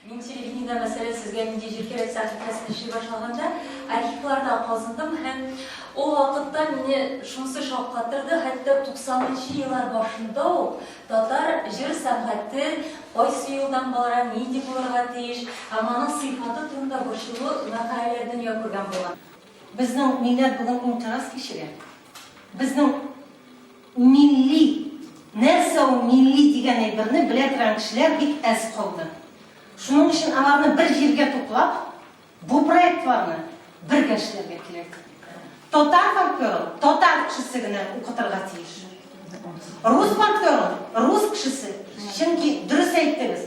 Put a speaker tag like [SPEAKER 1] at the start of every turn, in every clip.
[SPEAKER 1] Мин телевидениедә, мәсәлән, сезгә нинди җир кирәк сәхифәсен эшли башлаганда, архивларда казындым һәм ул вакытта мине шунысы шаккатырды, хәтта 90нчы еллар башында ук татар җыр сәнгате кайсы юлдан бара, нинди булырга тиеш һәм аның сыйфаты турында борчулы мәкаләләр дөнья күргән булган. Безнең
[SPEAKER 2] милләт бүген инкыйраз кичерә. Безнең Милли, нәрсә ул милли дигән әйберне белә торган кешеләр бик әз калды. Шуның өчен аларны бер җиргә туплап, бу проектларны бергә эшләргә кирәк. Татар фольклорын татар кешесе генә укытырга тиеш. Рус фольклорын рус кешесе, чөнки дөрес әйттегез,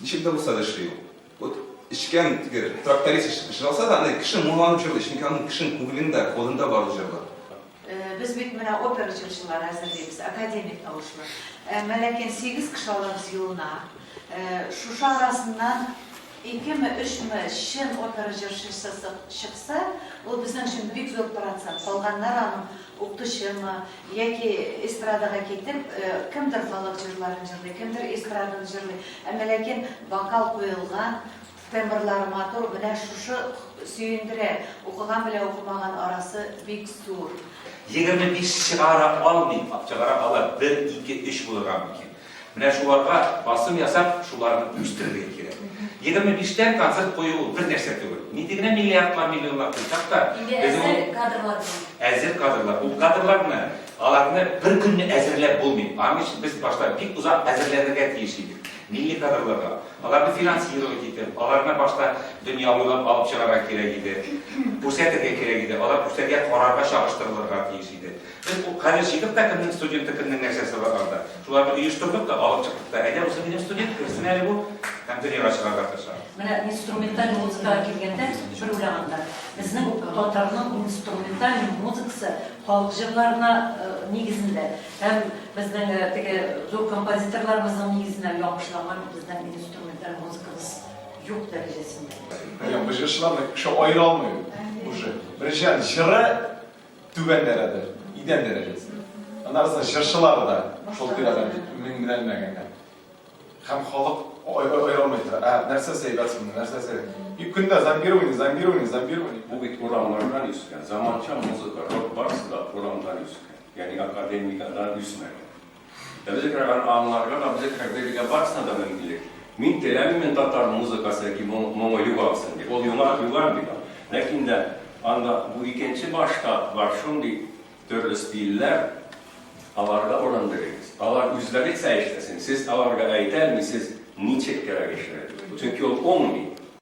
[SPEAKER 3] Ничек тә булса да эшли ул. Вот эчкән теге тракторист җырласа да, аны кеше моңланып җырлый, чөнки аның кешенең күңелендә, кодында бар ул җырлар. Без бит
[SPEAKER 4] менә опера җырчылары әзерлибез, академик тавышлы. Әмма ләкин сигез кеше алабыз елына. Шушы арасыннан икеме, өчме чын опера җырчысы чыкса, ул безнең өчен бик зур процент. Калганнары аның укытучымы, Яки эстрадага китеп, кемдер халык җырларын җырлый, кемдер эстраданы җырлый. Әмма ләкин вокал куелган, тембрлары матур, менә шушы сөендерә. Укыган белән укымаган арасы бик зур. Егерме биш
[SPEAKER 5] чыгара алмыйм, чыгара алар, бер, ике, өч булырга мөмкин. Менә шуларга басым ясап, шуларны үстерергә кирәк. Егерме биштән концерт кую ул бер нәрсә түгел. Нинди генә миллиардлар, миллионлар куйсак та, без ул
[SPEAKER 1] әзер кадрлар.
[SPEAKER 5] Ул кадрларны, аларны бер көнне әзерләп булмый. Аның өчен без башта бик озак әзерләнергә тиеш идек милли кадрларга. Аларны финансировать итеп, аларны башта дөнья буйлап алып чыгарга кирәк иде. Күрсәтергә кирәк иде. Алар күрсәтергә карарга чагыштырылырга тиеш иде. Без бу хәле җигеп тә кемнең студенты, кемнең нәрсәсе бар анда. Шуларны оештырдык та, алып чыктык та. Әйдә, бусы минем студент, керсен әле бу, һәм дөньяга чыгарга тырыша. Менә инструменталь
[SPEAKER 1] музыкага килгәндә, бер уйлаганда, безнең татарның инструменталь музыкасы халык җырларына нигезендә һәм безнең теге зур композиторларыбызның нигезенә ябышланган безнең инструменталь музыкабыз юк дәрәҗәсендә. Әйе, без җырчылар
[SPEAKER 6] да кеше аера алмый уже. Беренчедән, җыры Түбән дәрәдер, идән дәрәҗәсе. Аннары җырчылар да шул тирәдә мин белән мәгәнә. Һәм халык аерылмый тора. Ә нәрсә сәйбәт соң, нәрсә сәйбәт? И көндә зомбирование, зомбирование, зомбирование. Бу бит урамнардан
[SPEAKER 7] үскән. Заманча музыка, рок барысы да урамнардан үскән. Ягъни академиядән үсмәгән. Ә без экрага аңларга да, без экрага бирергә барысына да мөмкинлек. Мин теләмим, мин татар музыкасы яки моңы югалсын дип. Ул югар, югар бит. Ләкин дә анда бу икенче башта бар шундый төрле стильләр, аларга урын бирегез. Алар үзләре эшләсен. Сез аларга әйтә алмыйсыз, ничек кирәк эшләргә. Чөнки ул уңмый.